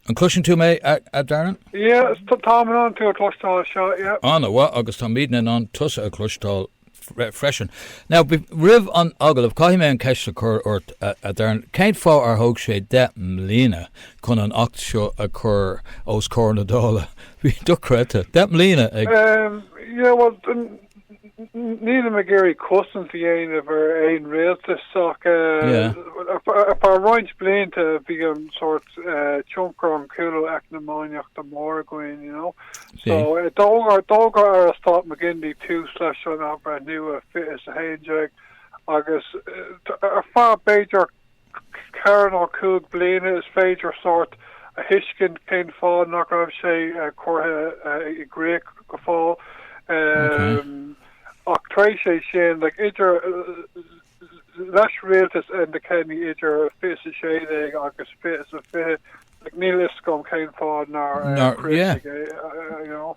An gcloiseann tú mé, a Darren? Yeah, táim in ann tú a chloisteáil, yeah. Ana mhaith, agus tá mé in ann tusa a chloisteáil freisin. Now, roimh an agallamh, caithfidh mé an ceist a chur ort, a Darren, cén fáth ar thóg sé deich mbliana chun an tAcht seo a chur os comhair na Dála? Bhí dochreidte, deich mbliana ag. Yeah, well, Nílim ag iarraidh cosaint a dhéanamh ar aon rialtas ach Yeah. eh, ar feadh roinnt blianta bhí an sórt eh, tionchar an chúlú eacnamaíochta mór againn, you know. Bhí. So eh, d'fhógair d'fhógair Aire Stáit McGinley tús leis an athbhreithniú i 2011 agus eh, t- ar feadh b'fhéidir 4 nó 5 bliana is féidir sórt a thuiscint cén fáth nach raibh sé curtha i gcrích go fóill. Ach tar éis sin, like, idir leis rialtas Enda Kenny idir 20 is 16 agus 20 is 20, like, níl fhios agam cén fáth nár críochnaíodh é, you know.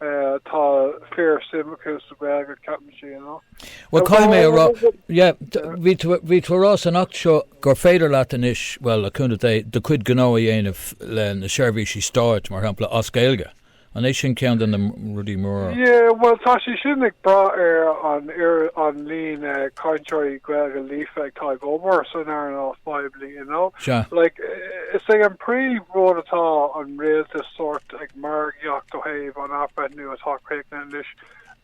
tá fíor suim acu sa Gaeilge ceapaimse you know. Well caithfidh mé a rá yeah bhí tú ag rá san acht seo gur féidir leat anois well le cúnamh Dé do chuid gnó a dhéanamh le na seirbhísí stáit mar shampla as Gaeilge. An é sin ceann de na rudaí móra? Yeah well tá sé sin ag brath ar an ar an líon cainteoirí Gaeilge líofa atá ag obair san earnáil phoiblí you know like is é an príomh rud atá an rialtas sórt ag margaíocht ó thaobh an athbhreithniú atá críochnaithe anois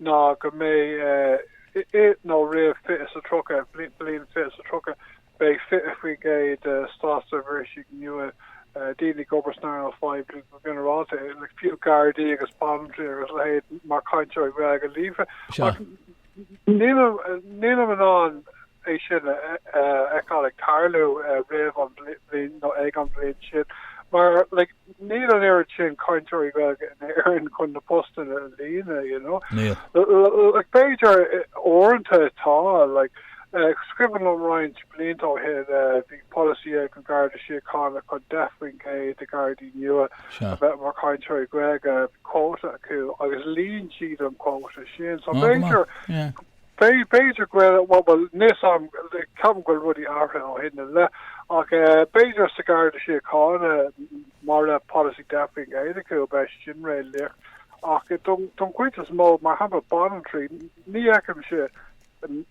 ná go mbeidh i nó roimh 20 is 30, bliain 20 is 30, beidh 20% de státseirbhísigh nua, daoine ag obair san earnáil phoiblí go ginearálta, fiú Gardaí agus Banaltraí agus a leithéid, mar chainteoirí Gaeilge líofa. Ach Nílim in ann é sin a fheiceáil ag tarlú roimh an bhliain nó ag an bhliain sin mar níl an oiread sin cainteoirí Gaeilge in Éirinn chun na postanna a líonadh, you know. Níl. B'fhéidir uaireanta tá, like, is cuimhin liom roinnt blianta ó shin bhí polasaí ag an Garda Síochána chun 10% de Gardaí nua, a bheith mar chainteoirí Gaeilge quota acu agus líon siad an quota sin so b'fhéidir b'fhéidir go bhfuil bhuel bhuel níl fhios agam ceapaim go bhfuil rudaí athraithe ó shin i leith ach b'fhéidir sa Garda Síochána mar le policy deich faoin gcéad acu bheadh sé sin réalaíoch ach don chuid is mó mar shampla banaltraí ní fheicimse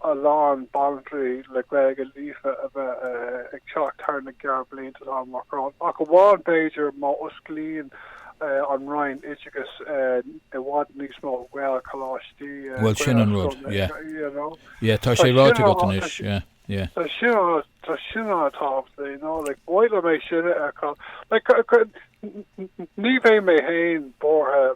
a lán banaltraí le Gaeilge líofa a bheith ag teacht thar na gearrbhlianta atá amach romhainn, ach amháin b'fhéidir má osclaíonn an Roinn Oideachais i bhfad níos mó Gaelcholáistí, Gaelscoileanna, you know. Yeah, tá sé ráite agat anois, yeah, yeah. Tá sin an rud, tá sin an-tábhachtach, you know, like, ba mhaith liom é sin a fheiceáil. Like, ní bheidh mé féin buartha,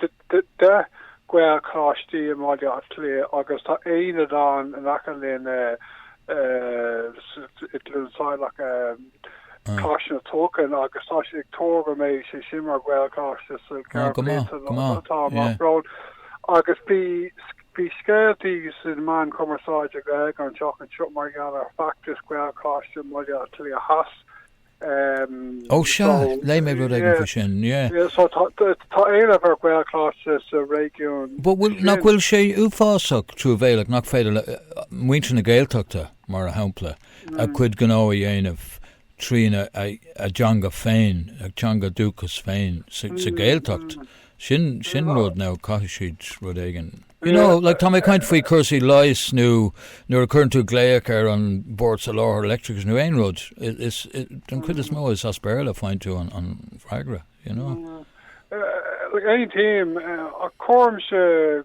10 Gaelcholáistí i mBaile Átha Cliath agus tá aonad ann in aice linn i gCluain Saileach. Coláiste na Tulchann agus tá siad ag tuar go mbeidh sé sin mar Ghaelcholáiste sna gearrbhlianta atá amach romhainn. Agus bhí scéalta sna meáin chumarsáide Gaeilge an tseachtain seo mar gheall ar feachtas Ghaelcholáiste Bhaile Átha Cliath Theas. Ehm, Ó sea, so, léigh mé rud éigin yeah, faoi sin, yeah. yeah, so tá tá- tá éileamh ar Ghaelcholáiste sa réigiún But bhfuil, nach sin. bhfuil sé uafásach truamhéalach nach féidir le uh, muintir na Gaeltachta, mar a shampla, a Mm, cuid gnó a dhéanamh trína a, a dteanga féin, a teanga dúchas féin sa, sa mm, Gaeltacht, mm, Sin, sin rud nó caithfidh siad rud éigin. You know, like tá mé ag caint faoi cúrsaí leighis nó nuair a cuireann tú glaoch ar an Bord Soláthair Leictreachais nó aon rud, is, don chuid is mó is as Béarla a faigheann tú an, an freagra, you know. Aontaím, ach cuirimse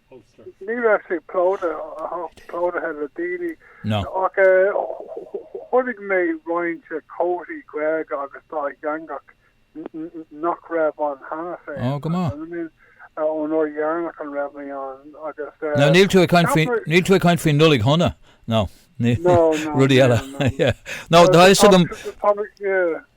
Ulster. Ní raibh sé plódaithe, ach plódaithe le daoine. No. Ach chonaic mé roinnt comharthaí Gaeilge agus dátheangach nach raibh ann cheana féin. Oh, go maith. Ón uair dheireanach a raibh mé ann agus... No, níl tú ag caint faoi, níl tú ag caint faoi Nollaig Shona, no. Rudaí eile. No, tá fhios agam.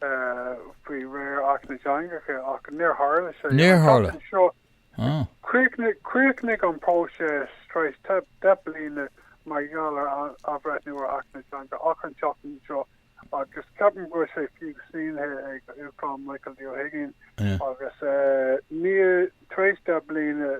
faoi réir Acht na dTeangacha ach níor tharla sé. Níor tharla. Chríochnaigh an próiseas tar éis deich bliana mar gheall ar athbhreithniú ar Acht na dTeangacha an tseachtain seo agus ceapaim go bhfuil sé fiú sínithe ag an Uachtarán Michael D Ó hUiginn agus níl, tar éis deich bliana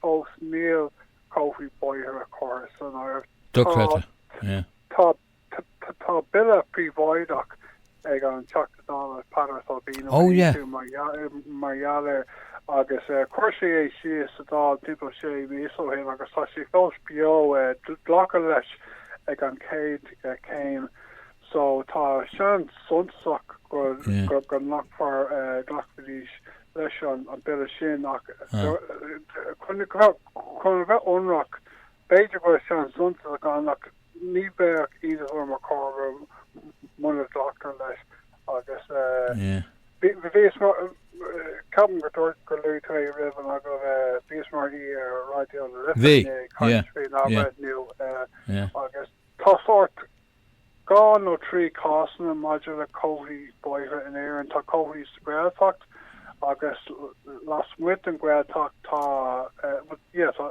fós níl comharthaí bóithre curtha san áireamh. Dochreidte. Tá Tá bille príobháideach ag an Teachta Dála Peadar Tóibín ó Aontú mar gheall air agus chuir sé é síos sa Dáil timpeall sé mhíosa ó shin agus tá sé fós beo. Glacadh leis ag an chéad chéim so tá seans suntasach go nglacfar, go nglacfaidís leis an bille sin ach chun a bheith ionraic b'fhéidir go bhfuil seans suntasach ann ach Ní bheadh Isidore Mac Cormara muna gcleachtar leis agus bhíos mar, ceapaim go dúirt, go luaigh tú é roimh an agallaimh, bhíos mar aoi ar Raidió na Life inné ag caint faoi an athbhreithniú agus tá sórt dhá nó trí cásanna maidir le comharthaí bóithre in Éirinn. Tá comharthaí sa Ghaeltacht agus lasmuigh den Ghaeltacht tá, bhuel, yeah, tá.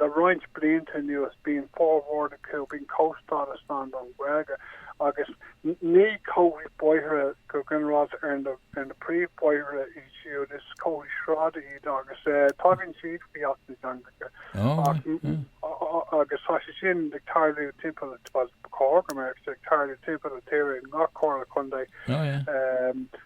Le roinnt blianta anuas bíonn formhór acu bíonn comhstádas ann don Ghaeilge agus ní comharthaí bóithre go ginearálta ar na ar na príomh bóithre iad siúd, is comharthaí sráide iad agus tagann siad faoi Acht na dTeangacha ach agus tá sé sin ag tarlú timpeall, bhuel ba chóir go mbeadh sé ag tarlú timpeall an tíre i ngach Comhairle Contae.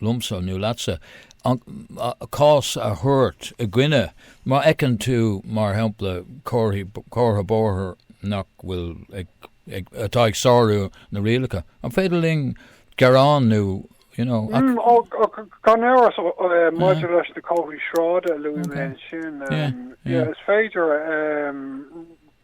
liomsa nó leatsa, an cás a thabhairt i gcoinne, má fheiceann tú, mar shampla, comhartha bóthair nach bhfuil ag, atá ag sárú na rialacha, an féidir linn gearán nó, you know, ach. Mm, ach gan amhras, maidir leis na comharthaí sráide a luaigh mé ansin, yeah, is féidir,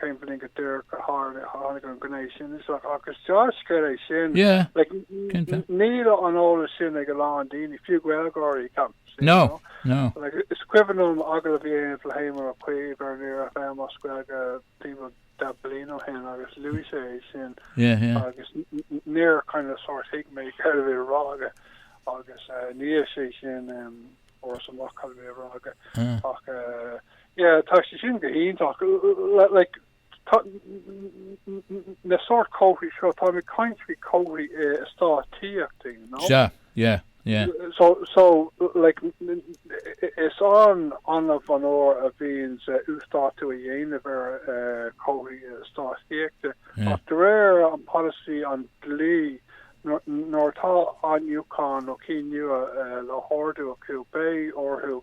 cén bhliain go díreach a tháinig an ghné sin isteach ach is dea-scéal é sin. Níl an eolas sin ag a lán daoine, fiú Gaeilgeoirí, ceapaim. No, no. Is cuimhin liom agallamh a dhéanamh le hÉamon Ó Cuív ar Near FM as Gaeilge timpeall deich bliana ó shin agus luaigh sé é sin agus níor kind of sórt thuig mé céard a bhí á rá aige agus ina dhiaidh sin fuaireas amach cad a bhí á rá aige ach Yeah tá sé sin go hiontach like tá na sórt comharthaí seo táim ag caint faoi comharthaí in eastáit tithíochta you know. Sea yeah yeah. So so like is an-annamh an uair a bhíonns uasdátú á dhéanamh ar comharthaí in eastáit tithíochta ach de réir an polasaí an dlí nuair atá athnuachan nó cinn nua le hordú acu beidh orthu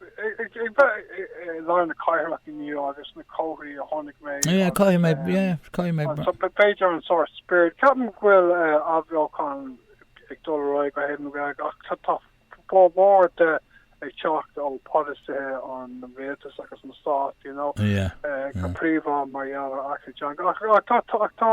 Ag bheith i lár na cathrach inniu agus na comharthaí a chonaic mé Yeah, caithfidh mé, agus yeah, caithfidh mé. anso b- b'fhéidir an sórt spirit. Ceapaim go bhfuil eh, athbheochan ag dul ar aghaidh ó thaobh na Gaeilge ach tá tá formhór de ag teacht ó pholasaithe an Rialtais agus an Stáit, you know, Yeah, eh, go yeah. príomha mar gheall ar Acht na dTeangacha. Ach ach tá tá ach tá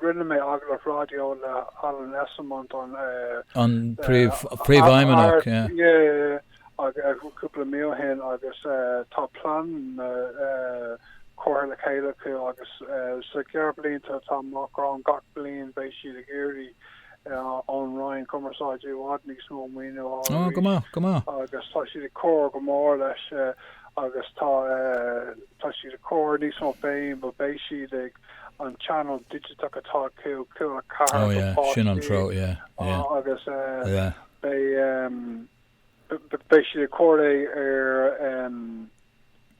Rinne mé agallamh raidió le Alan Esslemont, an Príomhfheidhmeannach, cúpla mí ó shin agus tá pleananna curtha le chéile acu agus sa gceithre blianta atá amach romhainn, gach bliain, beidh siad ag iarraidh ón Roinn Cumarsáide i bhfad níos mó maoiniú a fháil arís agus tá siad ag cur go mór leis agus tá siad ag cur níos mó féin, beidh siad ag. an channel digiteach atá acu, Cúla4 Oh go yeah, sin an páistí, treo, yeah, yeah, agus yeah. beidh, beidh siad ag comhréidh ar,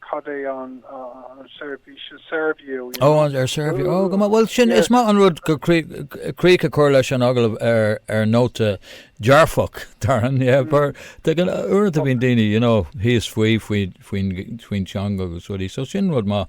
cad é an, an seirbhís, an Serviu, you know. Oh, ar Serviu, oh, go maith, bhuel sin, is maith an rud críoch a chur leis an agallamh ar, ar nóta dearfach, Doireann, yeah, mar tá, uaireanta bíonn daoine, you know, thíos faoi, faoi, faoin, faoin teanga agus rudaí, so sin rud maith.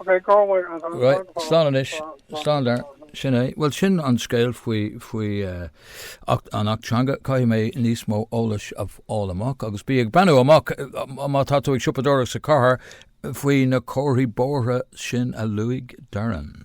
Ok, go bhfuil an rud Right, maith slán anois, go maith slán go dar. maith. Sin é. Bhuel, sin an scéal faoi, faoi eh, acht, an Acht Teanga. Caithfidh mé níos mó eolais a fháil amach agus bí ag breathnú amach, eh, má tá tú ag siopadóireacht sa chathair, faoi na comharthaí bóithre sin a luaigh Doireann.